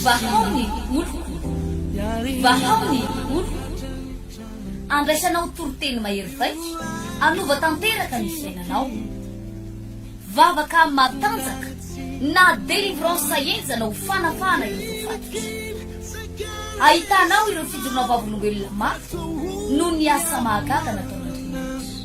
Vahao ny oloko, vahao ny oloko, andraisanao toriteny mahery vaika, hanova tanteraka ny fiainanao. Vavaka matanjaka na délivrance henjana ho fanafahana ireo voafatotra. Ahitanao ireo fijoroana vavolombelona mafy noho ny asa mahagaga nataon'Andriamanitra.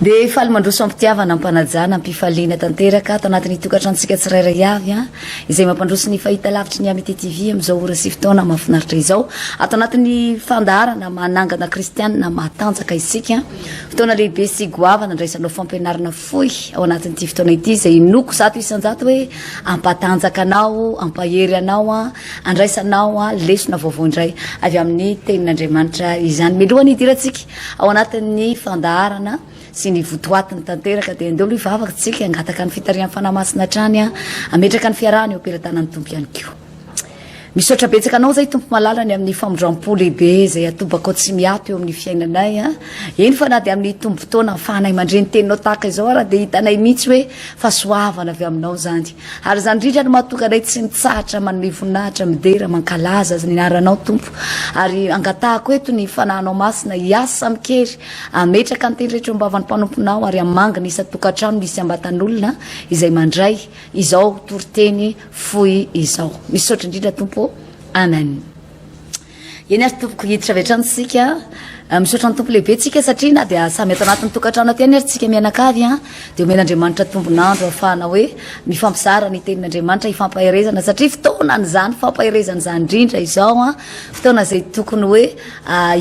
Dia faly mandroso am-pitiavana, am-panajana, am-pifaliana tanteraka ato anatin'ny tokantranontsika tsirairay avy an, izay mampandroso ny fahitalavitry ny Amity TV amin'izao ora sy fotoana mahafinaritra izao. Ato anatin'ny fandaharana manangana kristianina matanjaka isika. Fotoana lehibe sy goavana andraisanao fampianarana fohy ao anatin'ity fotoana ity izay inoako zato isan-jato hoe hampatanjaka anao, hampahery anao, handraisanao lesona vaovao indray avy amin'ny tenin'Andriamanitra izany. Mialohan'ny hidirantsika Ao anatin'ny fandaharana sy ny votoatiny tanteraka dia andeo aloha hivavaka tsika, hangataka ny fitarihan'ny Fanahy Masina hatrany, hametraka ny fiarahana eo am-pelatanan'ny Tompo ihany koa. Misaotra betsaka anao zay Tompo malala ny amin'ny famindrampo lehibe izay atobakao tsy miato eo amin'ny fiainanay. Eny fa na dia amin'ny tombofotoana ahafahanay mandre ny teninao tahaka izao ara dia hitanay mihitsy hoe fahasoavana avy aminao izany. Ary izany indrindra no mahatonga anay tsy mitsahatra manome voninahitra, midera, mankalaza Azy ny Anaranao, Tompo. Ary angatahako eto ny Fanahinao Masina hiasa amin-kery, hametraka ny Teny rehetra eo am-bavan'ny mpanomponao, ary hamangy ny isan-tokantrano misy am-batan'olona izay mandray izao toriteny fohy izao. Misaotra indrindra, Tompo ô. Amen. Eny ary tompoko hiditra avy hatrany tsika misaotra ny tompo lehibe tsika satria na dia samy ato anatin'ny tokantrano aty ihany ary tsika mianakavy an dia omena Andriamanitra tombon'andro hafahana hoe mifampizara ny tenin'Andriamanitra hifampaherezana satria fotoana an'izany fampaherezana izany indrindra izao an fotoana izay tokony hoe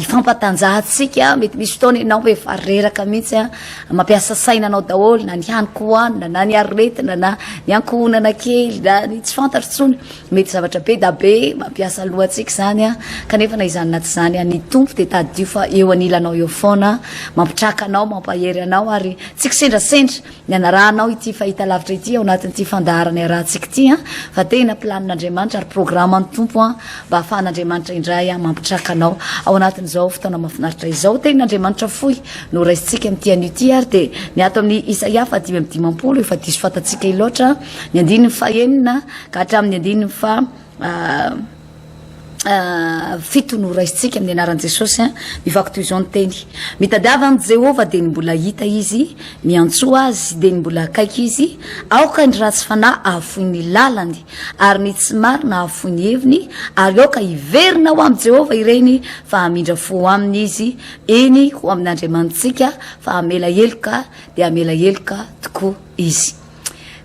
hifampatanjahantsika mety misy fotoana ianao hoe efa reraka mihitsy an mampiasa saina anao daholo na ny haniko hohanina na ny aretina na ny ankohonana kely na ny tsy fantatro tsony Mety zavatra be da be mampiasa lohantsika izany an, kanefa na izany na tsy izany an, ny Tompo dia tadidio fa eo anilanao eo foana, mampitraka anao, mampahery anao, ary tsy kisendrasendra ny hanarahanao ity fahitalavitra ity ao anatin'ity fandaharana iarahantsika ity an, fa tena planin'Andriamanitra ary programan'ny Tompo an, mba hahafahan'Andriamanitra indray an mampitraka anao ao anatin'izao fotoana mahafinaritra izao. Tenin'Andriamanitra fohy no raisintsika amin'ity anio ity ary dia ny ato amin'ny Isaia fahadimy amby dimampolo, efa diso fantatsika loatra, ny andininy fahenina, ka hatramin'ny andininy faha fito no raisintsika amin'ny anaran'i Jesosy mivaky toy izao ny teny mitadiava an'i Jehovah dia ny mbola hita izy miantsoa azy dia ny mbola akaiky izy aoka ny ratsy fanahy ahafoy ny lalany ary ny tsy marina ahafoy ny heviny ary aoka hiverina ho amin'i Jehovah ireny fa hamindra fo ho aminy izy eny ho amin'Andriamanitsika fa hamela heloka dia hamela heloka tokoa izy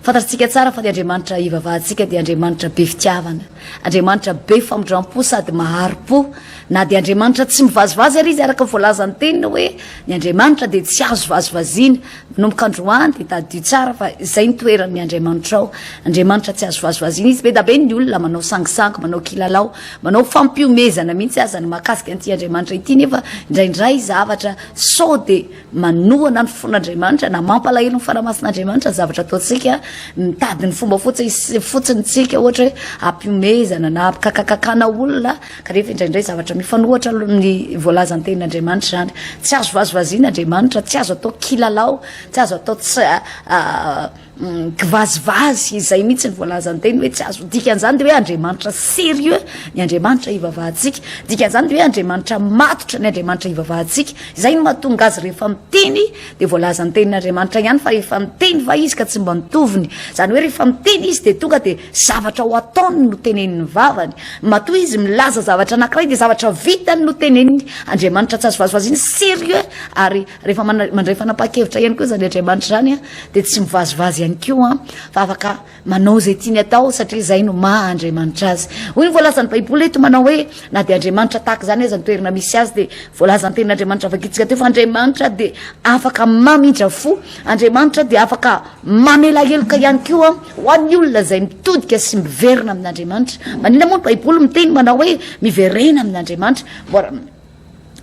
Fantatsika tsara fa ny Andriamanitra hivavahantsika dia Andriamanitra be fitiavana, Andriamanitra be famindram-po sady mahari-po. Na dia Andriamanitra tsy mivazivazy ary Izy, araka ny voalazan'ny Teniny hoe ny Andriamanitra dia tsy azo vazivaziana. Manomboka androany dia tadidio tsara fa izay ny toeran'ny Andriamanitrao. Andriamanitra tsy azo vazivaziana Izy. Be da be ny olona manao sangisangy, manao kilalao, manao fampihomezana mihitsy aza ny mahakasika an'ity Andriamanitra ity nefa indraindray zavatra sao dia manohana ny fon'Andriamanitra na mampalahelo ny fanahy masin'Andriamanitra ny zavatra ataontsika, mitady ny fomba fotsiny fotsiny tsika ohatra hoe ampiomezana na ampikakakakana olona kanefa indraindray zavatra mifanohatra ny voalazan'ny tenin'Andriamanitra izany. Tsy azo vazivaziana Andriamanitra, tsy azo atao kilalao, tsy azo atao tsy Kivazivazy izay mihitsy ny voalazan-teny hoe tsy azo. Dikan'izany dia hoe Andriamanitra sérieux ny Andriamanitra ivavahantsika. Dikan'izany dia hoe Andriamanitra matotra ny Andriamanitra ivavahantsika. Izay no mahatonga azy rehefa miteny dia voalaza ny tenin'Andriamanitra ihany fa efa niteny va izy ka tsy mba nitoviny. Izany hoe rehefa miteny izy dia tonga dia zavatra ho ataony no tenenin'ny vavany. Matoa izy milaza zavatra anankiray dia zavatra vitany no teneniny. Andriamanitra tsy azo vazivaziana, sérieux ary. Rehefa mandray fanapahan-kevitra ihany koa izany Andriamanitra izany dia tsy mivazivazy ihany koa fa afaka manao izay tiany atao satria izay no maha Andriamanitra azy. Hoy ny voalazan'ny Baiboly eto manao hoe na dia Andriamanitra tahaka izany aza ny toerana misy azy dia voalazan'ny tenin'Andriamanitra vakitsika teo fa Andriamanitra dia afaka mamindra fo. Andriamanitra dia afaka mamela heloka ihany koa ho an'ny olona izay mitodika sy miverina amin'Andriamanitra. Maninona moa ny Baiboly miteny manao hoe miverena amin'Andriamanitra?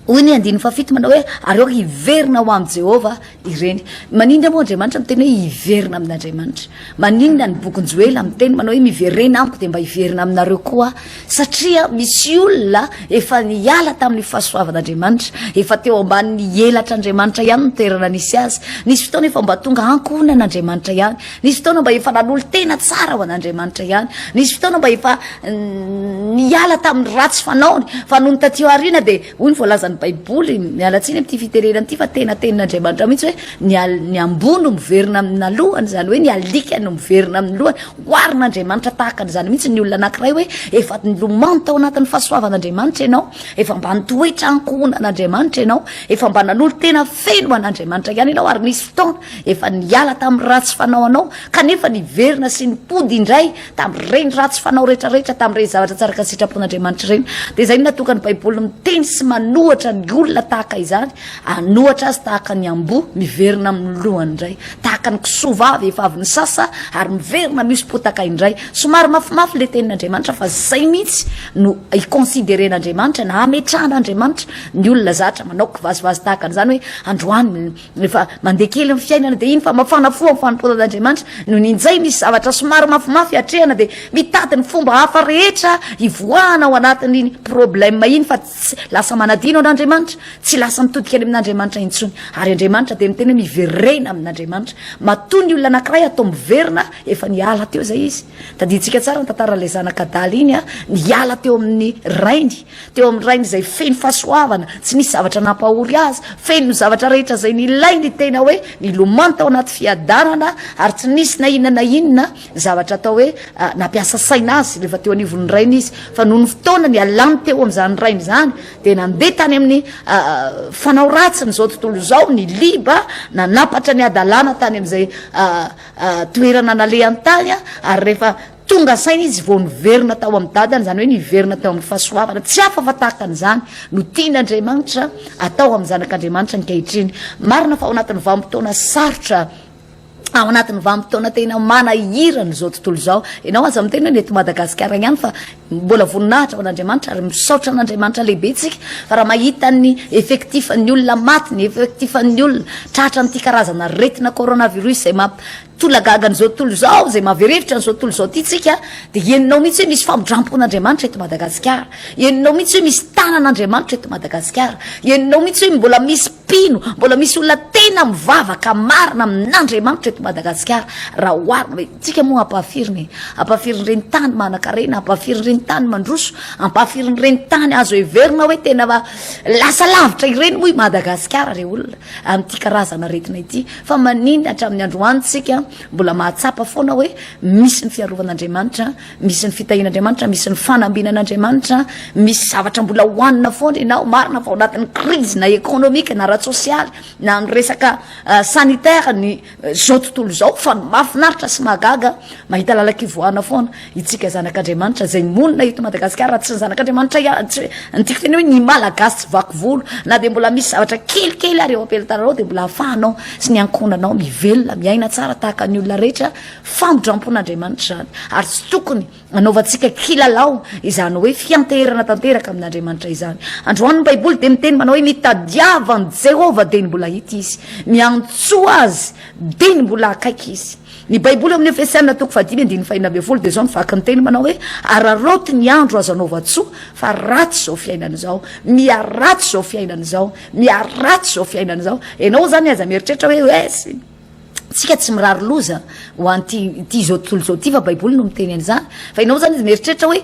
Hoy ny andininy fahafito manao hoe, Ary aoka hiverina ho amin'i Jehovah ireny. Maninona moa Andriamanitra miteny hoe hiverina amin'Andriamanitra? Maninona ny bokin'i Joela miteny manao hoe miverena amiko dia mba hiverina aminareo koa aho? Satria misy olona efa niala tamin'ny fahasoavan'Andriamanitra, efa teo ambanin'ny elatr'Andriamanitra ihany ny toerana nisy azy. Nisy fotoana efa mba tonga ankohonan'Andriamanitra ihany. Nisy fotoana mba efa nanolo-tena tsara ho an'Andriamanitra ihany. Nisy fotoana mba efa niala tamin'ny ratsy fanaony. Fa nony taty aoriana dia hoy ny voalazan'ny Baiboly, miala tsiny amin'ity fitenenana ity fa tena tenin'Andriamanitra mihitsy hoe ny, ny amboa no miverina amina lohany, izany hoe ny alika no miverina amin'ny lohany. Oharin'Andriamanitra tahaka an'izany mihitsy ny olona anankiray hoe efa nilomano tao anatin'ny fahasoavan'Andriamanitra ianao, efa mba nitoetra ankohonan'Andriamanitra ianao, efa mba nanolo-tena feno ho an'Andriamanitra ihany ianao ary nisy fotoana Efa niala tamin'ny ratsy fanao anao, kanefa niverina sy nipody indray tamin'ireny ratsy fanao rehetrarehetra, tamin'ireny zavatra tsy araka ny sitrapon'Andriamanitra ireny. Dia izay no nahatonga ny Baiboly miteny sy manohatra ny olona tahaka izany, hanohatra azy tahaka ny amboa miverina amin'ny lohany indray, tahaka ny kisoa vavy efa avy nisasa ary miverina mihoso-potaka indray. Somary mafimafy ilay Tenin'Andriamanitra, fa izay mihitsy no hi-consideren'Andriamanitra na hametrahan'Andriamanitra ny olona zatra manao kivazivazy tahaka an'izany hoe androany, Rehefa mandeha kely ny fiainana dia iny fa mafana fo amin'ny fanompoanan'Andriamanitra no ninjay misy zavatra somary mafimafy hatrehana dia mitady ny fomba hafa rehetra hivoahana ao anatin'iny problème iny fa tsy lasa manadino an'Andriamanitra, tsy lasa mitodika any amin'Andriamanitra intsony. Ary Andriamanitra dia miteny hoe miverena amin'Andriamanitra. Matoa ny olona anankiray atao miverina efa niala teo izay izy. Tadidintsika tsara ny tantaran'ilay zanak'adala iny an, niala teo amin'ny rainy Teo amin'ny Rainy izay feno fahasoavana, tsy nisy zavatra nampahory Azy, feno ny zavatra rehetra izay nilainy tena hoe nilomano tao anaty fiadanana, ary tsy nisy na inona na inona zavatra atao hoe nampiasa saina Azy rehefa teo anivon'ny Rainy Izy. Fa nony fotoana nialany teo amin'izany Rainy izany, dia nandeha tany amin'ny fanao ratsin'izao tontolo izao, niliba, nanampatra ny hadalana tany amin'izay toerana nalehany tany, ary rehefa Tonga saina izy vao niverina tao amin'ny dadany, izany hoe niverina tao amin'ny fahasoavana. Tsy hafa fa tahaka an'izany no tian'Andriamanitra atao amin'ny zanak'Andriamanitra ankehitriny. Marina fa ao anatin'ny vanim-potoana sarotra, ao anatin'ny vanim-potoana tena manahirana izao tontolo izao, ianao aza miteny hoe ny eto Madagasikara ihany fa mbola voninahitra ho an'Andriamanitra ary misaotra an'Andriamanitra lehibe isika fa raha mahita ny effectif-n'ny olona maty, ny effectif-n'ny olona tratra amin'ity karazana aretina coronavirus izay mamp Tolona gaga an'izao tontolo izao, izay maverevitra an'izao tontolo izao ity tsika dia henonao mihitsy hoe misy famindrampon'Andriamanitra eto Madagasikara, henonao mihitsy hoe misy tanan'Andriamanitra eto Madagasikara, henonao mihitsy hoe mbola misy mpino, mbola misy olona tena mivavaka marina amin'Andriamanitra eto Madagasikara raha oharina hoe tsika moa ampahafirin'e, ampahafirin'ireny tany manan-karena, ampahafirin'ireny tany mandroso, ampahafirin'ireny tany azo heverina hoe tena lasa lavitra ireny moa i Madagasikara re olona amin'ity karazana aretina ity. Fa maninona hatramin'ny androany tsika mbola mahatsapa foana hoe misy ny fiarovan'Andriamanitra, misy ny fitahian'Andriamanitra, misy ny fanambinan'Andriamanitra, misy zavatra mbola hohanina foana ianao, marina fa ao anatin'ny crise na economique na ara-tsosialy na amin'ny resaka sanitaire ny zao tontolo izao fa ny mahafinaritra sy mahagaga mahita lalan-kivoahana foana. Itsika zanak'Andriamanitra izay monina eto Madagasikara raha tsy ny zanak'Andriamanitra ihany tsy hoe ny tiako tena hoe ny Malagasy tsy vaky volo na dia mbola misy zavatra kelikely ary eo am-pelantananao dia mbola ahafahanao sy ny ankohonanao mivelona miaina tsara tahaka ny olona rehetra famindram-pon'Andriamanitra izany ary tsy tokony anaovantsika kilalao izany hoe fianteherana tanteraka amin'Andriamanitra izany androany ny Baiboly dia miteny manao hoe mitadiava an'i Jehovah dia ny mbola hita izy miantsoa azy dia ny mbola akaiky izy Ny Baiboly ao amin'ny Efesiana toko fahadimy andininy fahenina ambin'ny folo dia izao no vaky ny teny manao hoe, Araraoty ny andro azo anaovan-tsoa, fa ratsy izao fiainana izao. Miharatsy izao fiainana izao. Miharatsy izao fiainana izao. Ianao izany aza mieritreritra hoe, hoe isika tsy mirary loza ho an'ity ity izao tontolo izao ity fa Baiboly no miteny an'izany. Fa ianao izany izy mieritreritra hoe,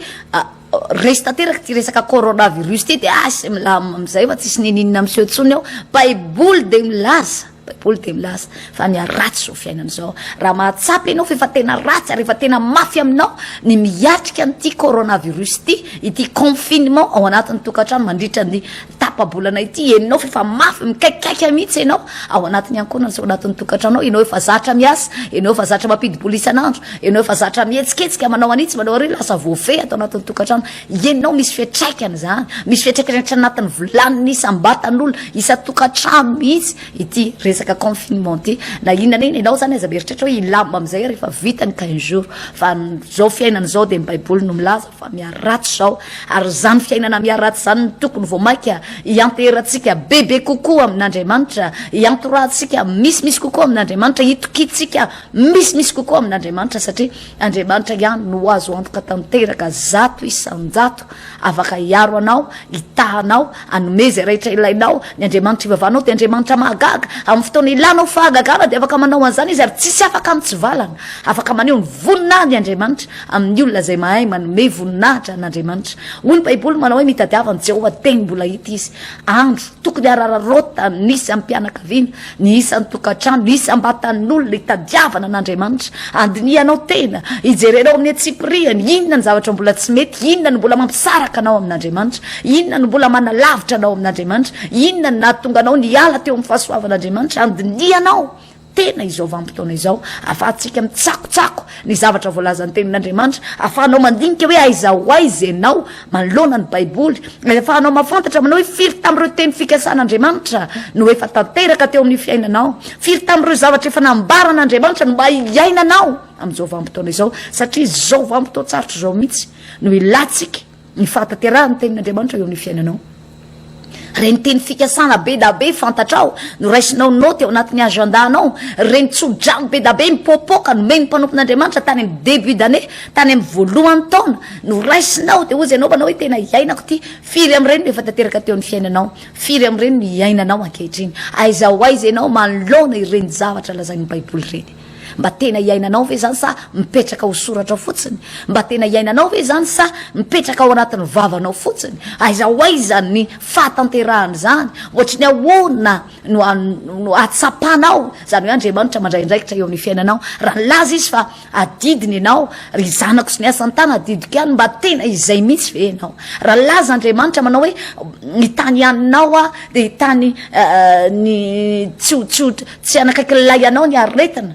resy tanteraka ity resaka coronavirus ity dia asy milamina amin'izay fa tsisy ninininina miseho intsony ao. Baiboly dia milaza. Baiboly dia milaza fa ny ratsy izao fiainana izao. Raha mahatsapa ianao fa efa tena ratsy ary efa tena mafy aminao ny miatrika an'ity coronavirus ity, ity confinement ao anatin'ny tokantrano mandritra ny tapa-bolana ity, henonao fa efa mafy, mikaikaika mihitsy ianao ao anatin'ny ankohonana sy ao anatin'ny tokantranonao, ianao efa zatra miasa, ianao efa zatra mampidi-bola isan'andro, ianao efa zatra mihetsiketsika manao an'itsy manao ary lasa voafehy ato anatin'ny tokantrano. Ianao misy fiatraikany izany, misy fiatraikany hatrany anatin'ny volan'ny isam-batan'olona, isan-tokantrano mihitsy ity resaka confinement ity. Na inona na inona ianao izany aza mieritreritra hoe hilama amin'izay aho rehefa vita ny quinze jours. Fa izao fiainana izao dia ny Baiboly no milaza fa miharatsy izao. Ary izany fiainana miharatsy izany no tokony vao mainka hianteherantsika bebe kokoa amin'Andriamanitra, hiantorahantsika misimisy kokoa amin'Andriamanitra, hitokiantsika misimisy kokoa amin'Andriamanitra satria, Andriamanitra ihany no azo antoka tanteraka zato isan-jato afaka hiaro anao, hitaha anao, hanome izay rehetra ilainao. Ny Andriamanitra ivavahanao dia Andriamanitra mahagaga. Amin'ny fotoana ilanao fahagagana dia afaka manao an'izany Izy ary tsisy afaka mitsivalana. Afaka maneho ny voninahiny Andriamanitra amin'ny olona izay mahay manome voninahitra an'Andriamanitra. Hoy ny Baiboly manao hoe mitadiava an'i Jehovah teny mbola hita izy. Andro, Tokony harararaotan'ny isam-pianakaviana. Ny isan'ny tokantrano, isam-batan'olona itadiavana an'Andriamanitra, andinihanao tena, ijerenao amin'ny an-tsipiriany, inona ny zavatra mbola tsy mety, inona no mbola mampisaraka anao amin'Andriamanitra, inona no mbola manalavitra anao amin'Andriamanitra, inona no nahatonga anao niala teo amin'ny fahasoavan'Andriamanitra, andinihanao tena izao vanim-potoana izao, ahafahantsika mitsakotsako ny zavatra voalazan'ny Tenin'Andriamanitra, ahafahanao mandinika hoe aiza ho aiza ianao manoloana ny Baiboly, ary ahafahanao mahafantatra manao hoe firy tamin'ireo teny fikasan'Andriamanitra no efa tanteraka teo amin'ny fiainanao, firy tamin'ireo zavatra efa nambaran'Andriamanitra no mba hiainanao amin'izao vanim-potoana izao, satria izao vanim-potoan-tsarotra izao mihitsy no ilantsika. Ny fahatanterahan'ny tenin'Andriamanitra eo amin'ny fiainanao. Ireny teny fikasana be da be fantatrao no raisinao naoty ao anatin'ny agenda-nao, ireny tsodrano be da be mipoapoaka nomen'ny mpanompon'Andriamanitra tany amin'ny début d'année, tany amin'ny voalohan'ny taona no raisinao dia hoy izay naovanao hoe tena iainako ity. Firy amin'ireny no efa tanteraka teo amin'ny fiainanao? Firy amin'ireny no iainanao ankehitriny? Aiza ho aiza ianao manoloana ireny zavatra lazain'ny Baiboly ireny? Mba tena iainanao ve izany sa mipetraka ho soratra ao fotsiny? Mba tena iainanao ve izany sa mipetraka ao anatin'ny vavanao fotsiny? Aiza ho aiza ny fahatanterahana izany? Ohatry ny ahoana no no hatsapanao izany hoe Andriamanitra mandray andraikitra eo amin'ny fiainanao? Raha nilaza izy fa adidiny ianao, ry zanako sy ny asan'ny tana adidiko ihany, mba tena izay mihitsy ve ianao? Raha nilaza Andriamanitra manao hoe ny tany haninao aho dia tany ny tsy ho tsy ho Tsy hanakaiky lay anao ny aretina.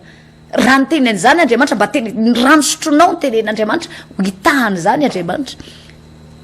Raha niteny an'izany Andriamanitra, mba teny, ny rano sotronao no tenen'Andriamanitra, ho hitahany izany Andriamanitra.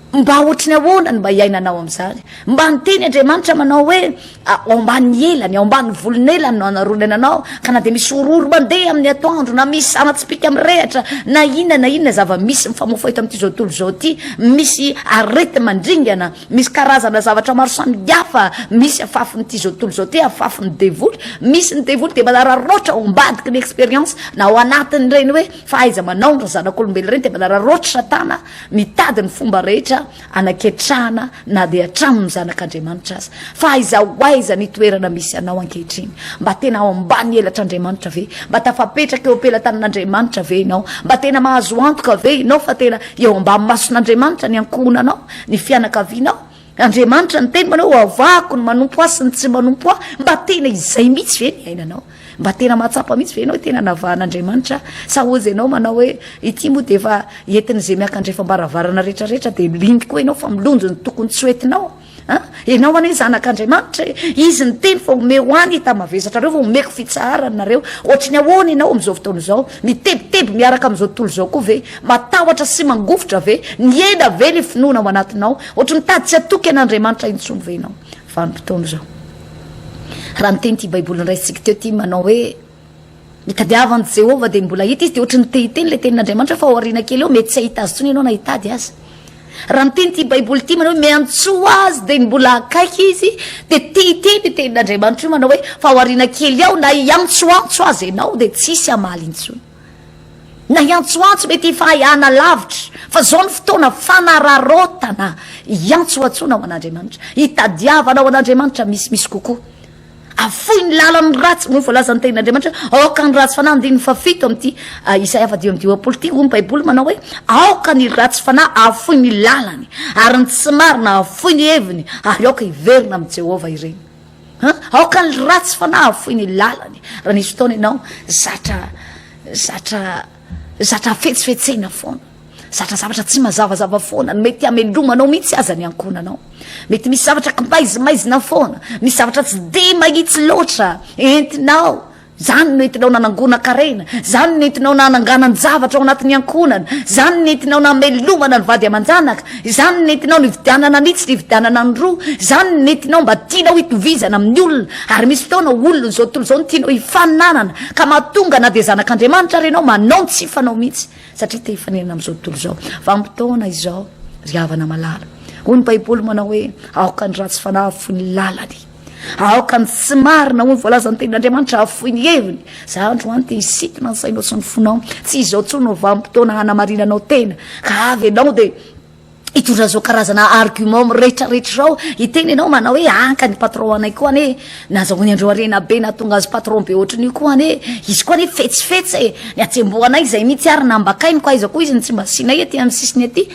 Mba ohatry ny ahoana ny mba hiainanao amin'izany? Mba niteny Andriamanitra manao hoe, ah, ao ambany elany, ao ambany volon'elany no hanaronana anao, ka na dia misy horohoro mandeha amin'ny atoandro, na misy zana-tsipìka mirehatra, na inona na inona zava-misy mifamofoha eto amin'ity zao tontolo izao ity, misy areti-mandringana, Misy karazana zavatra maro samihafa misy afafin'ity izao tontolo izao ity, afafin'ny devoly. Misy ny devoly dia manararaotra ao ambadiky ny expérience na ao anatin'ireny hoe fahaiza-manaony ry zanak'olombelona ireny dia manararaotra Satana mitady ny fomba rehetra hanaketrahana na dia hatramin'ny zanak'Andriamanitra aza. Fa aiza ho aiza ny toerana misy anao ankehitriny? Mba tena ao ambany elatr'Andriamanitra ve? Mba tafapetraka eo am-pelatanin'Andriamanitra ve ianao? Mba tena mahazo antoka ve ianao fa tena eo ambany mason'Andriamanitra ny ankohonanao? ny fianakavianao. Andriamanitra niteny manao hoe hoavahako ny manompo ahy sy ny tsy manompo ahy. Mba tena izay mihitsy ve ny ainanao? Mba tena mahatsapa mihitsy ve ianao hoe tena navahan'Andriamanitra? Sa hozy ianao manao hoe ity moa dia efa entin'izay miankandrefam-baravarana rehetrarehetra dia liny koa ianao fa milonjo ny tokony tsy ho entinao? Ah, ianao anie zanak'Andriamanitra e, izy niteny fa omeo ho any hita mavesatrareo fa omeko fitsaharana nareo. Ohatry ny ahoana ianao amin'izao fotoana izao? Mitebiteby miaraka amin'izao tontolo izao koa ve? Matahotra sy mangovitra ve? Nihena ve ny finoana ao anatinao? Ohatry ny tady tsy hatoky an'Andriamanitra intsony ve ianao vanim-potoana izao? Raha niteny ity Baiboly noraisintsika teo ity manao hoe ny tadiavan'i Jehovah dia mbola hita izy, dia ohatry ny te hiteny ilay tenin'Andriamanitra fa ao aoriana kely eo mety tsy hahita azy intsony ianao na hitady azy. Raha niteny ity Baiboly ity manao hoe miantsoa azy dia mbola akaiky izy, dia te hiteny ny tenin'Andriamanitra io manao hoe fa ao aoriana kely ao na hiantsoantso azy ianao dia tsy hisy hamaly intsony. na hiantsoantso mety hifahaiana lavitra fa zao ny fotoana fanararaotana hiantsoantsoana ho an'Andriamanitra hitadiavana ho an'Andriamanitra misy misy kokoa afoy ny lalan'ny ratsy moa voalaza ny tenin'Andriamanitra aoka ny ratsy fanahy andininy fafito amin'ity ah, Isaia fadimy amby dimampolo ity hoy ny Baiboly manao hoe aoka ny ratsy fanahy afoy ny lalany ary ny tsy marina afoy ny heviny ary aoka hiverina amin'i Jehovah ireny An, aoka ny ratsy fanahy hafoy ny lalany, raha nisy fotoana ianao zatra zatra zatra afetsifetsena foana, zatra zavatra tsy mazavazava foana, mety hamelomanao mihitsy aza ny ankohonanao, mety misy zavatra kimbaizimaizina foana, misy zavatra tsy dia mahitsy loatra entinao. Izany no entinao nanangona karena, izany no entinao nananganan-javatra ao anatin'ny ankohonana, izany no nentinao namelomana ny vady aman-janaka, izany no nentinao nividianana an'itsy nividianana an'roa, izany no nentinao mba tianao hitovizana amin'ny olona, ary misy fotoana ho olona izao tontolo izao no tianao hifaninanana, ka mahatonga na dia zanak'Andriamanitra ary ianao manao ny tsy hifanao mihitsy, satria te hifaninana amin'izao tontolo izao. Vanim-potoana izao, ry havana malala. Hoy ny Baiboly manao hoe, Aoka ny ratsy fanahy hahafoy ny lalany. Aoka ny tsy marina ho ny voalazan'ny tenin'Andriamanitra hahafoy ny heviny. Za androany te hisikina ny sainao sy ny fonao. Tsy izao intsony no vanim-potoana hanamarinanao tena. Ka avy ianao dia hitondra izao karazana argument miretraretra izao. Hiteny ianao manao hoe anka ny patron anay koa anie nazahoany andro harena be nahatonga azy patron be ohatran'io koa anie. Izy koa anie fetsifetsy e. Ny hatsembohanay izay mihitsy ary nambakainy koa aiza koa izy no tsy mba asianay ety amin'ny sisiny ety.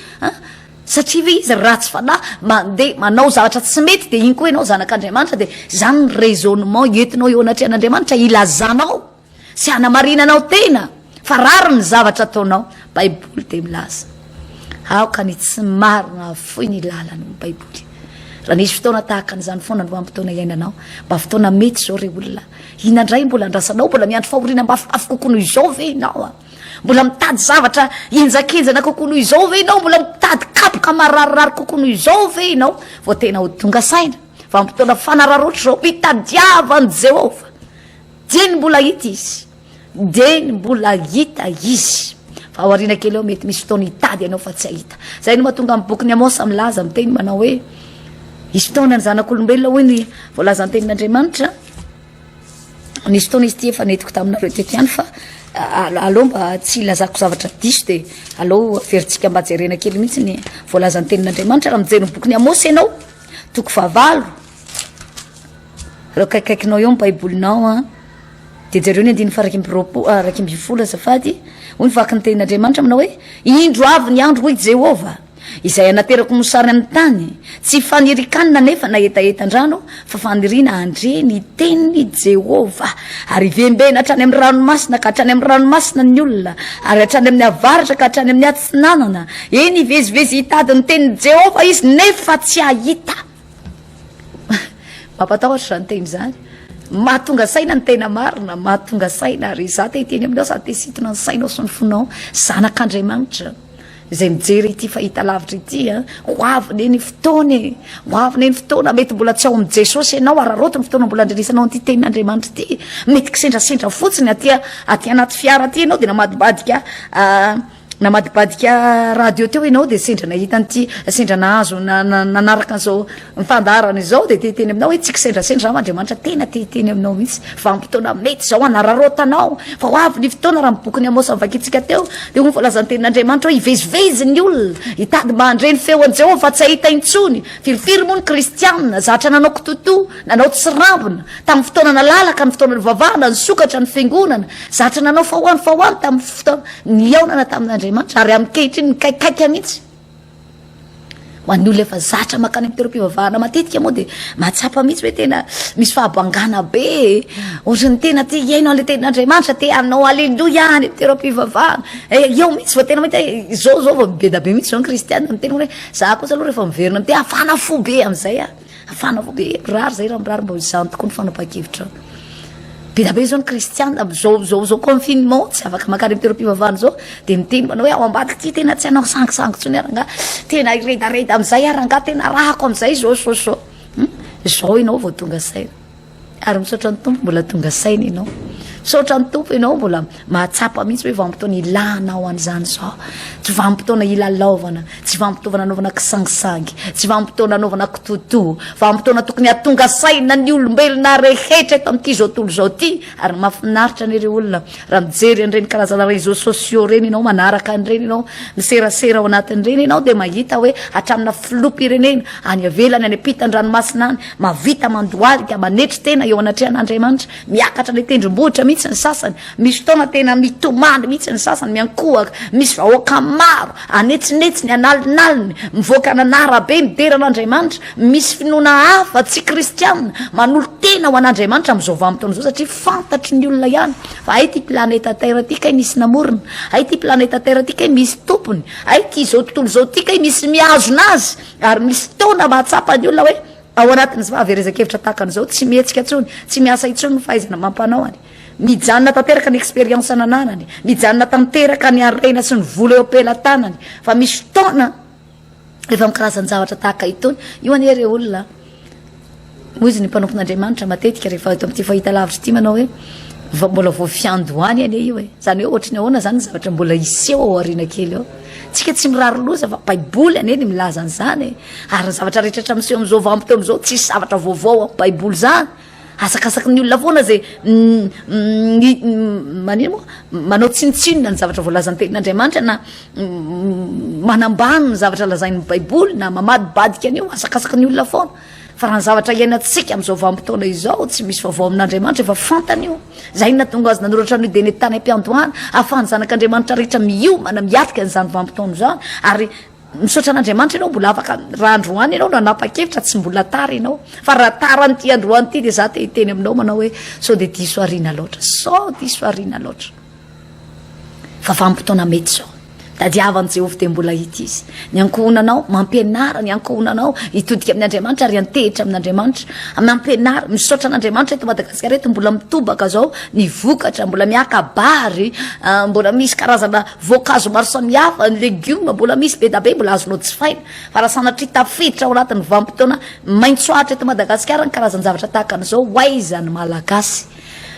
Satria ve izy ratsy fanahy mandeha manao zavatra tsy mety dia iny koa ianao zanak'Andriamanitra dia izany ny raisonnement entinao eo anatrehan'Andriamanitra hilazanao sy hanamarinanao tena fa rariny ny zavatra ataonao. Baiboly dia milaza aoka ny tsy marina hahafoy ny lalany hoy ny baiboly. Raha nisy fotoana tahaka an'izany foana ny vanim-potoana iainanao mba fotoana mety izao ry olona, inona indray mbola andrasanao? Mbola miandry fahoriana mafimafy kokoa noho izao ve ianao? Mbola mitady zavatra henjakenjana kokoa noho izao ve ianao? Mbola mitady kapoka mararirary kokoa noho izao ve ianao? Vao tena ho tonga saina, vanim-potoana fanararaotra izao, mitadiava an'i Jehovah. Dieny mbola hita izy, dieny mbola hita izy. Fa aoriana kely eo mety misy fotoana hitady ianao fa tsy hahita. Izay no mahatonga amin'ny bokin'i Amôsa milaza miteny manao hoe hisy fotoana ny zanak'olombelona hoy ny voalazan'ny tenin'Andriamanitra. Nisy fotoana izy ity efa nentiko taminareo teto ihany fa aleo mba tsy ilazako zavatra diso dia aleo averintsika mba jerena kely mihitsy ny voalazan'ny tenin'Andriamanitra raha mijery ny bokin'i Amosy ianao toko fahavalo ireo kaikaikinao eo ny baibolinao a dia jereo ny andininy farakimby roapo ah, rakimby folo azafady hoy ny vaky ny tenin'Andriamanitra aminao hoe indro avy ny andro hoy Jehovah Izay anaterako mosary amin'ny tany, tsy fanirikanina anefa na hetahetan-drano fa faniriana handre ny tenin'i Jehovah. Ary hivembena hatrany amin'ny ranomasina ka hatrany amin'ny ranomasina ny olona, ary hatrany amin'ny avaratra ka hatrany amin'ny atsinanana, eny, hivezivezy hitady ny tenin'i Jehovah izy, nefa tsy hahita. Mampatahotra izany teny izany. Mahatonga saina ny tena marina, mahatonga saina, ary izaho te hiteny aminao, sady te hisintona ny sainao sy ny fonao, zanak'Andriamanitra. Izay mijery ity fahitalavitra ity a, ho avy anie ny fotoana e, ho avy anie ny fotoana, mety mbola tsy ao amin'ny Jesosy ianao, araraoty ny fotoana mbola andrenisanao an'ity tenin'Andriamanitra ity, mety kisendrasendra fotsiny aty a, aty anaty fiara aty ianao dia namadibadika namadibadika radio teo ianao dia sendra nahita an'ity, sendra nahazo na- na- nanaraka an'izao. Ny fandaharana izao dia te hiteny aminao hoe tsy kisendrasendra aho Andriamanitra tena te hiteny aminao mihitsy vanim-potoana mety izao hanararaotanao fa ho avy ny fotoana raha ny bokin'i Amosa novakintsika teo dia ho ny voalazan'ny tenin'Andriamanitra hoe hivezivezy ny olona hitady mba handre ny feon'i Jehovah fa tsy hahita intsony firifiry moa ny kristiana zatra nanao kitotoa nanao tsirambina tamin'ny fotoana nalalaka ny fotoana nivavahana nisokatra ny fiangonana zatra nanao faoano faoano tamin'ny fotoana nihaonana tamin'Andriamanitra ary amin'nkehitriny nikaikaika mihitsy Ho an'ny olona efa zatra makany amin'ny toeram-pivavahana matetika moa dia mahatsapa mihitsy hoe tena misy fahabangana be e. Ohatry ny tena te hihaino an'ilay tenin'Andriamanitra, te hanao aleloia any amin'ny toeram-pivavahana. Eh, eo mihitsy vao tena mahita hoe izao izao vao mibeda be mihitsy izao ny kristiana, miteny hoe za kosa aloha rehefa miverina amin'ny te hafana fo be amin'izay aho. Fanaovako hoe mirary izay raha mirary mba izany tokoa ny fanapahan-kevitrao. Be dia be izao ny kristiana amin'izao izao izao confinement tsy afaka maka any toeram-pivavahana izao dia miteny manao hoe ao ambadika ity tena tsy hanao sangisangy intsony ary angaha tena hiredareda amin'izay ary angaha tena ràko amin'izay izao izao izao. Izao ianao vao tonga saina. Ary misaotra ny Tompo mbola tonga saina ianao. Misaotra ny Tompo ianao mbola mahatsapa mihitsy hoe vanim-potoana ilanao an'izany izao. Tsy vanim-potoana ilalaovana, tsy vanim-potoana anaovana kisangisangy, tsy vanim-potoana anaovana kitotoa. Vanim-potoana tokony hahatonga saina ny olombelona rehetra eto amin'ity izao tontolo izao ity. Ary mahafinaritra anie ireo olona raha mijery an'ireny karazana réseaux sociaux ireny ianao, manaraka an'ireny ianao, miserasera ao anatin'ireny ianao dia mahita hoe hatraminà filoham-pirenena any ivelany, any ampitan-dranomasina any, Mahavita mandohalika, manetry tena eo anatrehan'Andriamanitra, miakatra any an-tendrombohitra mihitsy ny sasany, misy fotoana tena mitomany mihitsy ny sasany, miankohaka, misy vahoaka maro anetsinetsiny, analinaliny, mivoaka any an'arabe midera an'Andriamanitra, misy finoana hafa tsy kristiana manolo-tena ho an'Andriamanitra amin'izao vanim-potoana izao satria fantatry ny olona ihany fa hay ity planeta Terre ity kay misy namorona, hay ity planeta Terre ity kay misy tompony, hay ity izao tontolo izao ity kay misy mihazona azy. Ary misy fotoana mahatsapa ny olona hoe ao anatin'ny fahaverezan-kevitra tahaka an'izao, tsy mihetsika intsony, tsy miasa intsony ny fahaizana amam-panaony. Mijanona tanteraka ny expérience nananany, mijanona tanteraka ny harena sy ny vola eo am-pelatanany. Fa misy fotoana efa amin'ny karazan-javatra tahaka itony. Io anie re olona. Hoy izy, Ny mpanompon'Andriamanitra matetika rehefa eto amin'ity fahitalavitra ity manao hoe vao mbola vao fiandohany anie io e. Izany hoe ohatry ny ahoana izany ny zavatra mbola hiseho ao aoriana kely ao. Tsika tsy mirary loza fa Baiboly anie ny milaza an'izany e. Ary ny zavatra rehetra hatramin'izao amin'izao vanim-potoana izao tsisy zavatra vaovao amin'ny Baiboly izany. Asakasaky ny olona foana izay manino moa? manao tsinontsinona ny zavatra voalazan'ny Tenin'Andriamanitra na manambany ny zavatra lazain'ny Baiboly na mamadibadika an'io, asakasaky ny olona foana. Fa raha ny zavatra iainantsika amin'izao vanim-potoana izao, tsy misy vaovao amin'Andriamanitra, efa fantany io. Izay no nahatonga azy nanoratra an'io dieny tany am-piandohana, ahafahan'ny zanak'Andriamanitra rehetra miomana, miatrika an'izany vanim-potoana izany, ary Misaotra an'Andriamanitra ianao mbola afaka raha androany ianao nanapa-kevitra tsy mbola tara ianao fa raha tara an'ity androany ity dia za te hiteny aminao manao hoe sao dia diso arina loatra sao diso arina loatra fa vanim-potoana mety zao tadiavan'i Jehovah dia mbola ity izy ny ankohonanao mampianara ny ankohonanao hitodika amin'ny Andriamanitra ary antehitra amin'Andriamanitra mampianara misaotra an'Andriamanitra eto Madagasikara eto mbola mitobaka zao ny vokatra mbola miaka-bary ah, mbola misy karazana Voankazo maro samihafa, ny legioma mbola misy, be dia be mbola azonao jifaina. Fa raha sanatria tafiditra ao anatin'ny vanim-potoana maitso atra eto Madagasikara ny karazan-javatra tahaka an'izao, ho aiza ny Malagasy?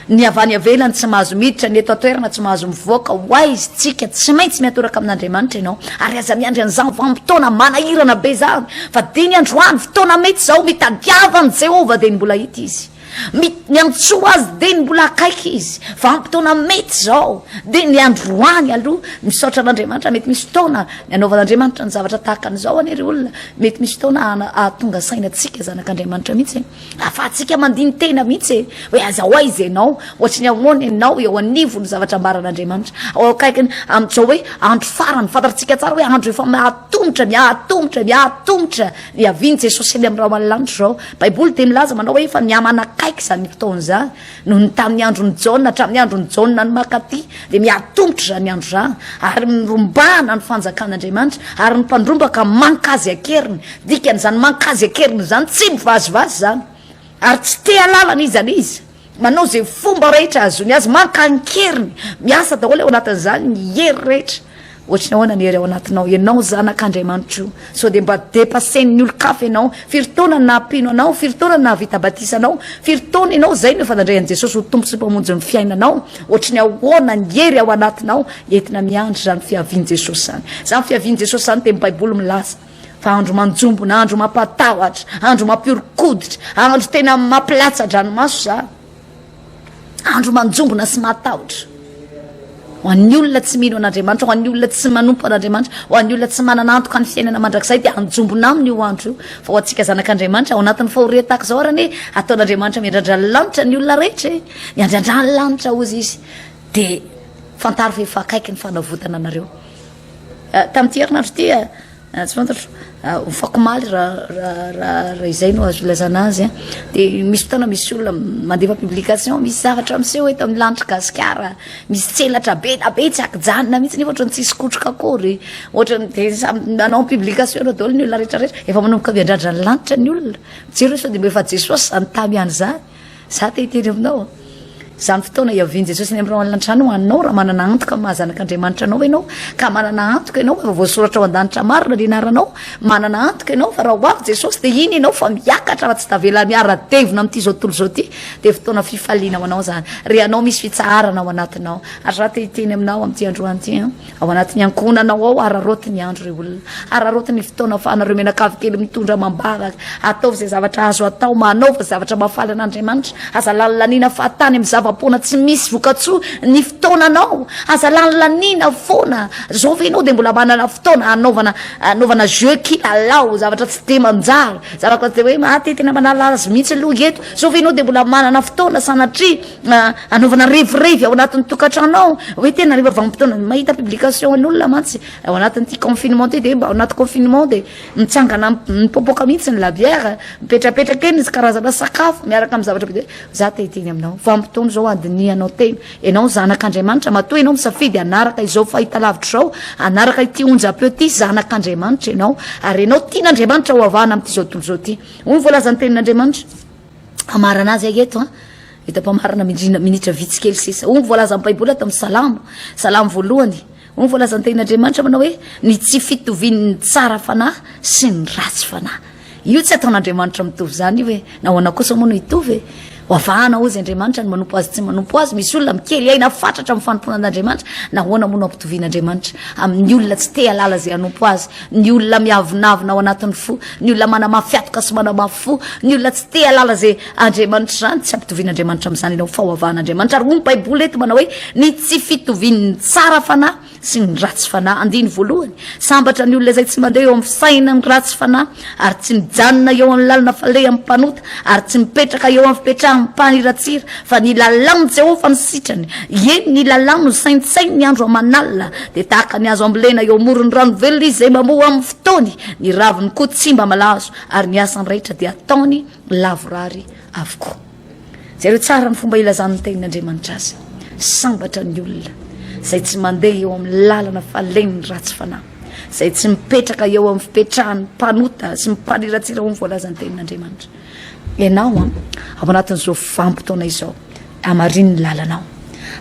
Ny avy any ivelany tsy mahazo miditra, ny eto an-toerana tsy mahazo mivoaka, ho aiza isika? Tsy maintsy miatoraka amin'Andriamanitra ianao, ary aza miandry an'izany vanim-potoana manahirana be izany, fa diniho androany, fotoana mety izao, mitadiava an'i Jehovah, dia ny mbola hita izy. Mit, Niantsoa azy dia ny mbola akaiky izy. Vanim-potoana mety izao dia ny androany aloha. Misaotra an'Andriamanitra, mety misy fotoana ny anaovan'Andriamanitra ny zavatra tahaka an'izao anie ry olona. Mety misy fotoana hahatonga saina antsika zanak'Andriamanitra mihitsy e. Ahafahantsika mandini-tena mihitsy e. Hoe aza ho aiza ianao, ohatry ny ahoana ianao eo anivon'ny zavatra ambaran'Andriamanitra. Ao akaikiny amin'izao hoe andro farany, fantatsika tsara hoe andro efa mahatomotra, mihatomotra, mihatomotra Hiavian'i Jesosy eny amin'ny rahona lanitra izao. Baiboly dia milaza manao hoe efa mihamanakaiky izany fotoana izany, noho ny tamin'ny andron'i Jaona hatramin'ny andron'i Jaona ny Makaty, dia miha-tongotra izany andro izany, ary mirombahana ny fanjakan'Andriamanitra, ary ny mpandrombaka mankazy an-keriny. Dikan'izany mankazy an-keriny izany, tsy mivazivazy izany, ary tsy te-halalana iza n'iza. Manao izay fomba rehetra ahazoany azy, maka an-keriny, miasa daholo ao anatin'izany ny hery rehetra. Ohatry ny ahoana ny hery ao anatinao? Ianao zanak'Andriamanitro io. Sao dia mba depassen'ny olon-kafa ianao? Firy taona no naha-mpino anao? Firy taona no nahavita batisa anao? Firy taona ianao izay no efa nandray an'i Jesosy ho Tompo sy Mpamonjy ny fiainanao? Ohatry ny ahoana ny hery ao anatinao entina miandry izany fiavian'i Jesosy izany? Izany fiavian'i Jesosy izany dia ny Baiboly milaza. Fa andro manjombona, andro mampatahotra, andro mampihoron-koditra, andro tena mampilatsa-dranomaso izany. Andro manjombona sy mahatahotra. Ho an'ny olona tsy mino an'Andriamanitra, ho an'ny olona tsy manompo an'Andriamanitra, ho an'ny olona tsy manana antoka ny fiainana mandrakizay dia anjombona aminy io andro io. Fa ho antsika zanak'Andriamanitra ao anatin'ny fahoriana tahaka izao arany e, ataon'Andriamanitra miandrandra ny lanitra ny olona rehetra e. Miandrandra ny lanitra hozy izy. Dia fantaro fa efa akaiky ny fanavotana anareo. Tamin'ity herinandro ity, tsy fantatro, ho fakomaly raha izay no azo ilazana azy, dia misy fotoana misy olona mandefa publication, misy zavatra miseho eto amin'ny lanitr'i Gasikara, misy tselatra be dia be tsy ankijanona mihitsy nefa ohatran'ny tsisy kotroka akory, ohatran'ny dia samy nanao publication eo daholo ny olona rehetra rehetra, efa manomboka miandrandra ny lanitra ny olona, jereo sao dia mba efa Jesosy izany tamy ihany izany. Za te hiteny aminao, izany fotoana iavian'i Jesosy any amin'ireo alina an-trano ho anao, raha manana antoka amin'ny maha-zanak'Andriamanitra anao ianao, ka manana antoka ianao fa voasoratra ao an-danitra marina ny anaranao, manana antoka ianao fa raha ho avy Jesosy dia hino ianao fa miakatra fa tsy tavela miara-devona amin'ity izao tontolo izao ity, dia fotoana fifaliana ho anao izany, ry anao misy fitsaharana ao anatinao, ary za te hiteny aminao amin'ity androany ity an. Ao anatin'ny ankohonanao ao, araraoty ny andro ry olona, araraoty ny fotoana ahafahanareo mianakavy kely mitondra amam-bavaka. Ataovy izay zavatra azo atao, manaova izay zavatra mahafaly an'Andriamanitra. Aza lany laniana fahatany amin'ny zava-poana tsy misy vokatsoa ny fotoananao. Aza lany laniana foana. Izao ve ianao dia mbola manana fotoana hanaovana hanaovana jeux, kilalao, zavatra tsy dia manjary, zavatra tsy dia hoe maha te tena manala azy mihitsy aloha eto. Izao ve ianao dia mbola manana fotoana sanatria. anaovana revirevy ao anatin'ny tokantrano ao hoe tena rehefa vanim-potoana mahita publication an'olona mantsy ao anatin'ity confinement ty dia mba ao anaty confinement dia mitsangana mipopoka mihitsy ny labiera mipetrapetraka eny izy karazana sakafo miaraka amin'ny zavatra be dia za te hiteny aminao vanim-potoana izao andinihanao tena ianao zanak'andriamanitra matoa ianao misafidy hanaraka izao fahitalavitra izao hanaraka ity onjam-peo ity zanak'andriamanitra ianao ary ianao tian'andriamanitra ho avahana amin'ity izao tontolo izao ity hoy ny voalazan'ny tenin'andriamanitra Hamarana azy ahy eto an. Hita mpamarana midrina minitra vitsy kely sisa. Hoy ny voalazan'ny Baiboly ato amin'ny Salamo, Salamo voalohany. Hoy ny voalazan'ny tenin'Andriamanitra manao hoe ny tsy fitovian'ny tsara fanahy sy ny ratsy fanahy. Io tsy ataon'Andriamanitra mitovy izany io hoe nahoana kosa moa no hitovy e. Ho avahana hozy Andriamanitra ny manompo azy tsy manompo azy. Misy olona mikely aina fatratra amin'ny fanompoana an'Andriamanitra. Nahoana moa no ampitovian'Andriamanitra amin'ny olona tsy te halala izay hanompo azy. ny olona miavonavona ao anatin'ny fo, ny olona manamafy atoka sy manamafy fo, ny olona tsy te halala izay Andriamanitra izany, tsy ampitovian'Andriamanitra amin'izany ianao, fahavahan'Andriamanitra, ary hoy ny Baiboly eto manao hoe ny tsy fitovian'ny tsara fanahy sy ny ratsy fanahy, andiny voalohany, sambatra ny olona izay tsy mandeha eo amin'ny fisainan'ny ratsy fanahy ary tsy mijanona eo amin'ny lalana faleham-panota. ary tsy mipetraka eo amin'ny fipetrahan'ny mpaniratsira, fa ny lalàn'i Jehovah no sitrany, ie, ny lalàny no saintsaininy andro aman'alina. Dia tahaka ny hazo ambolena eo amoron'ny rano velona izy izay mamoa amin'ny fotoany, ny raviny koa tsy mba malazo, ary ny asany rehetra dia ataony lavorary avokoa. Jereo tsara ny fomba ilazan'ny Tenin'Andriamanitra azy. Sambatra ny olona izay tsy mandeha eo amin'ny lalana falehin'ny ratsy fanahy. izay tsy mipetraka eo amin'ny fipetrahan'ny mpanota sy mpaniratsira ho ny voalazan'ny tenin'Andriamanitra. Ianao an, ao anatin'izao vanim-potoana izao, amarin'ny lalanao.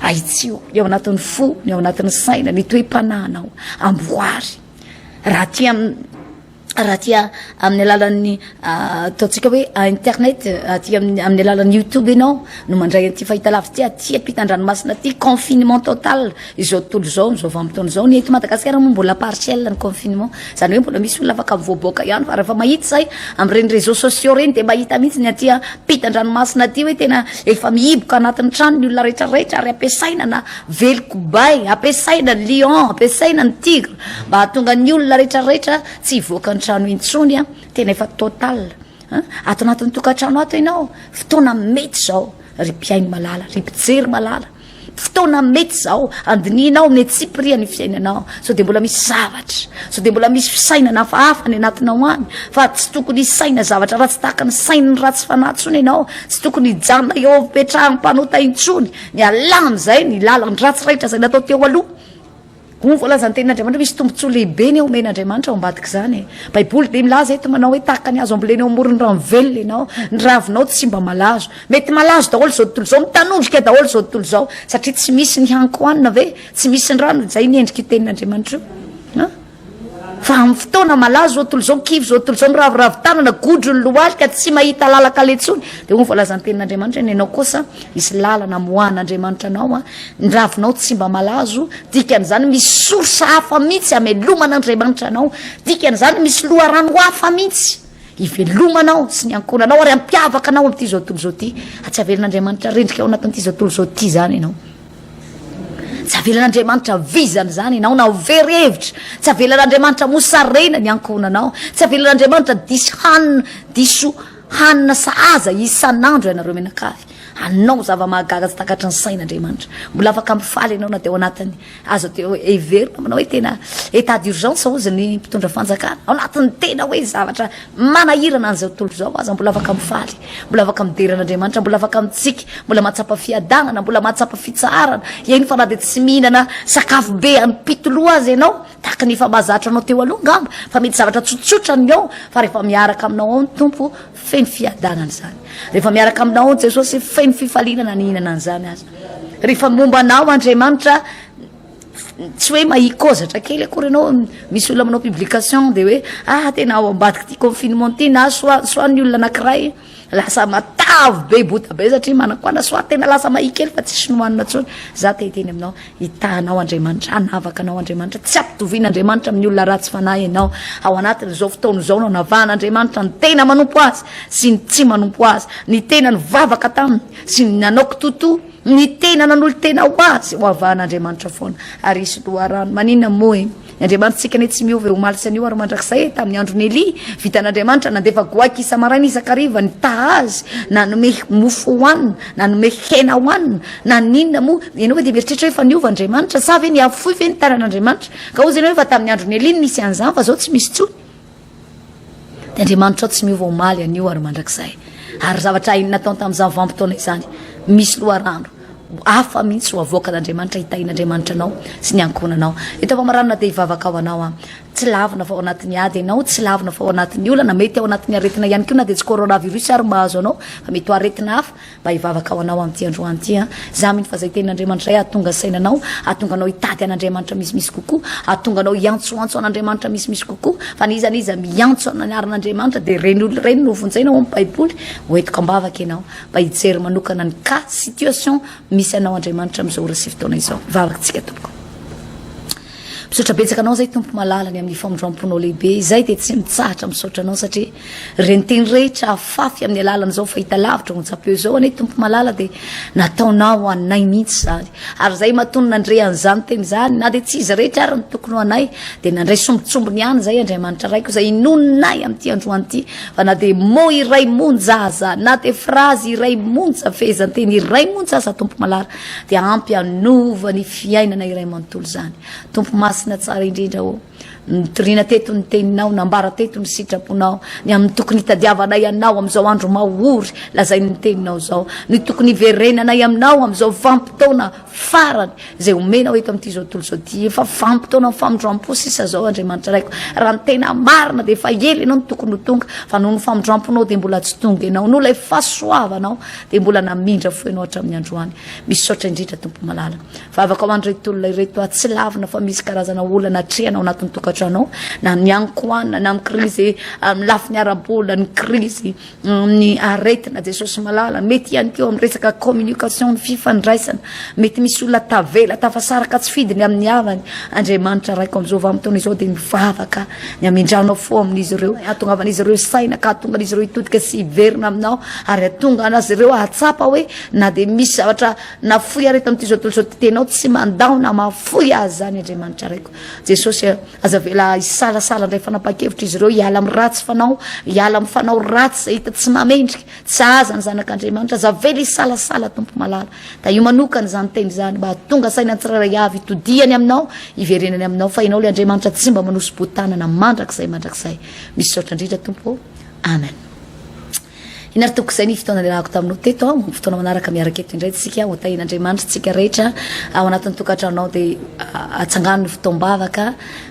Ahitsio ny ao anatin'ny fo, ny ao anatin'ny saina, ny toe-panahinao, amboary. Raha tian'ny raha tia amin'ny alalan'ny ataontsika hoe internet aty amin'ny alalan'ny youtube ianao no mandray an'ity fahitalavitra ty aty ampitan-dranomasina aty confinement total izao tontolo izao amin'izao vanim-potoana izao ny eto Madagasikara moa mbola partiel ny confinement izany hoe mbola misy olona afaka mivoaboaka ihany fa rehefa mahita izay amin'ireny réseaux sociaux ireny dia mahita mihitsy ny aty ampitan-dranomasina aty hoe tena efa mihiboka anatin'ny trano ny olona rehetra rehetra ary ampiasaina na velokobay ampiasaina ny lion ampiasaina ny tigre Mba hahatonga ny olona rehetra rehetra tsy hivoaka ny trano intsony an, tena efa total an, ato anatin'ny tokantrano ato ianao, fotoana mety izao ry mpihaino malala, ry mpijery malala, fotoana mety izao handinihinao ny antsipirihan'ny fiainanao, sao dia mbola misy zavatra, sao dia mbola misy fisainana hafahafa ny anatinao any, fa tsy tokony hisaina zavatra ratsy tahaka ny sain'ny ratsy fanahy intsony ianao, tsy tokony hijanona eo amin'ny fipetrahan'ny mpanota intsony, ny alà amin'izay ny lalan-dratsy rehetra izay natao teo aloha. Hoy ny voalazan'ny tenin'Andriamanitra, Misy tombontsoa lehibe ny omen'Andriamanitra ao ambadik'izany. E! Baiboly dia milaza eto manao hoe tahaka ny hazo ambolena eo amoron'ny rano velona ianao, ny ravinao tsy mba malazo. Mety malazo daholo izao tontolo izao, mitanondrika daholo izao tontolo izao, satria tsy misy ny haniko hohanina ve? Tsy misy ny rano, izay ny endrik'io tenin'Andriamanitra io. Fa amin'ny fotoana malaza zao tontolo zao, kivy zao tontolo zao, miraviravy tanana, godro ny lohalika, tsy mahita lalan-kaleha intsony, dia hoy ny voalazan-tenin'Andriamanitra, ny anao kosa hisy lalana hamoahan'Andriamanitra anao, ny ravinao tsy mba malazo, dikan'izany misy source hafa mihitsy hameloman'Andriamanitra anao, dikan'izany misy loharano hafa mihitsy hivelomanao sy ny ankohonanao ary hampiavaka anao amin'ity zao tontolo zao ity, fa tsy avelan'Andriamanitra rendrika ao anatin'ity zao tontolo zao ity izany ianao. Tsy avelan'Andriamanitra vizana izany ianao na ho very hevitra. Tsy avelan'Andriamanitra mosarena ny ankohonanao. Tsy avelan'Andriamanitra diso hanina, diso hanina sahaza isan'andro ianareo mianakavy. Hanao zava-mahagaga tsy takatry ny sain'Andriamanitra. Mbola afaka mifaly ianao na dia ao anatin'ny aza teo heverina aminao hoe tena état d'urgence hozy ny mpitondra fanjakana. Ao anatin'ny tena hoe zavatra Manahirana an'izao tontolo izao aza mbola afaka mifaly, mbola afaka midera an'Andriamanitra, mbola afaka mitsiky, mbola mahatsapa fiadanana, mbola mahatsapa fitsaharana, eny fa na dia tsy mihinana sakafo be am-pito loha aza ianao, tahaka ny efa mahazatra anao teo aloha angamba, fa mety zavatra tsotsotra ny ao, fa rehefa miaraka aminao ao ny Tompo, feno fiadanana izany. Rehefa miaraka aminao ao Jesosy, feno fifaliana na nihinana an'izany aza. Rehefa momba anao Andriamanitra, tsy hoe mahikôzatra kely akory anao misy olona manao publication de hoe ah tena ao ambadiky ty confinement ty na soit soit ny olona anakiray lasa matavy be bota be satria manakôna soit tena lasa mahia kely fa tsisy nohanina tsony za te hiteny aminao hitahanao Andriamanitra hanavaka anao Andriamanitra tsy ampitoviana Andriamanitra amin'ny olona ratsy fanahy ianao ao anatin'izao fotoana izao no anavahan'Andriamanitra ny tena manompo azy sy ny tsy manompo azy ny tena nivavaka taminy sy ny nanao kitoto Ny tena nanolo-tena ho Azy, hoavahan' Andriamanitra foana, ary hisy loharano. Maninona moa e? Ny Andriamanitsika anie tsy miova e, omaly sy anio ary mandrakizay e! Tamin'ny andron'i Elia, vitan' Andriamanitra, nandefa goaika isa-maraina isan-kariva, nitaha azy, nanome mofo hohanina, nanome hena hohanina. Naninona moa? Ianao ve dia mieritreritra hoe fa niova Andriamanitra? Sa ve nihafoy ve ny tanan' Andriamanitra? Ka hoy izy ianao hoe fa tamin'ny andron'i Elia no nisy an'izany fa izao tsy misy intsony. Dia Andriamanitra tsy miova omaly anio ary mandrakizay. Ary zavatra hainy natao tamin'izany vanim-potoana izany, misy loharano hafa mihitsy ho avoakan'Andriamanitra hitahian'Andriamanitra anao sy ny ankohonanao. Eto famaranana dia hivavaka ho anao aho. Tsy lavina fa ao anatin'ny ady ianao, tsy lavina fa ao anatin'ny olana, mety ao anatin'ny aretina ihany koa na dia tsy coronavirus ary mahazo anao fa mety ho aretina hafa. Mba hivavaka ho anao amin'ity androany ity aho. Izaho mino fa izay Tenin'Andriamanitra iray hahatonga saina anao, hahatonga anao hitady an'Andriamanitra misimisy kokoa, hahatonga anao hiantsoantso an'Andriamanitra misimisy kokoa. Fa na iza na iza miantso ny anaran'Andriamanitra dia ireny olona ireny no vonjena ao amin'ny Baiboly. Hoentiko am-bavaka ianao mba hijery manokana ny cas, situation, misy anao Andriamanitra amin'izao ora sy fotoana izao. Hivavaka isika tompoko. Misaotra betsaka anao zay tompo malala ny amin'ny famindramponao lehibe izay dia tsy mitsahatra misaotra anao satria ireny teny rehetra afafy amin'ny alalan'izao fahita lavitra on japeo izao anie tompo malala dia nataonao anay mihitsy izany ary izay matony nandre an'izany teny izany na dia tsy izy rehetra ary ny tokony ho anay dia nandray sombitsombiny ihany izay andriamanitra raiko izay inononay amin'ity androany ity fa na dia mo iray monja aza na dia frazy iray monja fehezanteny iray monja aza tompo malala Dia hampy hanova ny fiainana iray manontolo izany. Tompo Masina tsara indrindra ô, nitoriana teto ny teninao, nambara teto ny sitraponao, ny amin'ny tokony hitadiavanay anao amin'izao andro mahory lazain'ny teninao izao, ny tokony hiverenanay aminao amin'izao vanim-potoana farany izay homenao eto amin'ity izao tontolo izao ity. Efa vanim-potoanan'ny famindram-po sisa izao Andriamanitra Raiko, raha ny tena marina dia efa ela ianao no tokony ho tonga fa noho ny famindram-ponao dia mbola tsy tonga ianao, noho ilay fahasoavanao dia mbola namindra fo ianao hatramin'ny androany. Misaotra indrindra Tompo malala. Vavaka ho an'ireto olona ireto aho tsy lavina fa misy karazana olana atrehana ao anatin'ny tokantranao na ny ankohana na ny krizy amin'ny lafiny ara-bola ny krizy amin'ny aretina Jesosy malala. Mety ihany koa amin'ny resaka communication ny fifandraisana. Mety misy olona tavela tafasaraka tsy fidiny amin'ny havany. Andriamanitra raiko amin'izao vanim-potoana izao dia mivavaka Ny hamindranao fo amin'izy ireo, hahatongavan'izy ireo saina ka hahatonga an'izy ireo hitodika sy hiverina aminao ary hahatonga anazy ireo hahatsapa hoe na dia misy zavatra nafoy aretina amin'ity zao tontolo izao ity tenao tsy mandao na mahafoy azy izany Andriamanitra raiko. Jesosy eh, aza avela hisalasala indray fanapahan-kevitra izy ireo hiala amin'ny ratsy fanao, hiala amin'ny fanao ratsy izay hita tsy mahamendrika, tsy aza ny zanak'Andriamanitra, aza avela hisalasala Tompo malala. Tahio manokana izany teny izany mba hahatonga saina ny tsirairay avy hitodihany aminao, hiverenany aminao fa ianao ilay Andriamanitra tsy mba manosi-boa-tanana mandrakizay mandrakizay. Misaotra indrindra Tompo ô. Amen. Iny ary Tompoko izay ny fotoana niarahako taminao teto aho, fotoana manaraka miaraka eto indray tsika ho tahin'Andriamanitra tsika rehetra ao anatin'ny tokantranonao dia atsangano ny fotoam-bavaka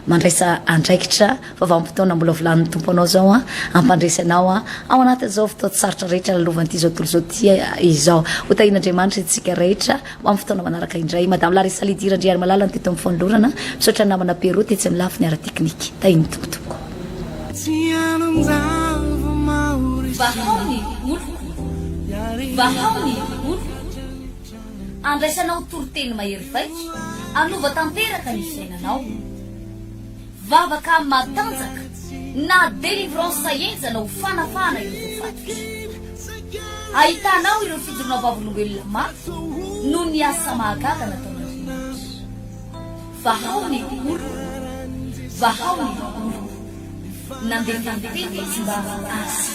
mandraisa andraikitra Vavam-potoana mbola volanin'ny Tompo anao izao an, hampandresy anao an, ao anatin'izao fotoan-tsarotra rehetra lalovan'ity izao tontolo izao ity izao. Ho tahian'Andriamanitra isika rehetra ho amin'ny fotoana manaraka indray. Madame Larissa Lydie Randriarimalala no teto amin'ny fanolorana. Misaotra ny namana Pero tetsy amin'ny lafiny ara-teknika. Tahian'ny Tompo tompoko. Vahao ny moloko, vahao ny moloko, andraisanao toriteny mahery vaika, hanova tanteraka ny fiainanao. Vavaka matanjaka na délivrance sahenjana ho fanafahana ireo voafatotra. Ahitana ao ireo fijoroana vavolombelona maro noho ny asa mahagaga nataon'Andriamanitra. Vahao ny oloko, vahao ny oloko. Nandeha tany tena izy mba hahasitrana.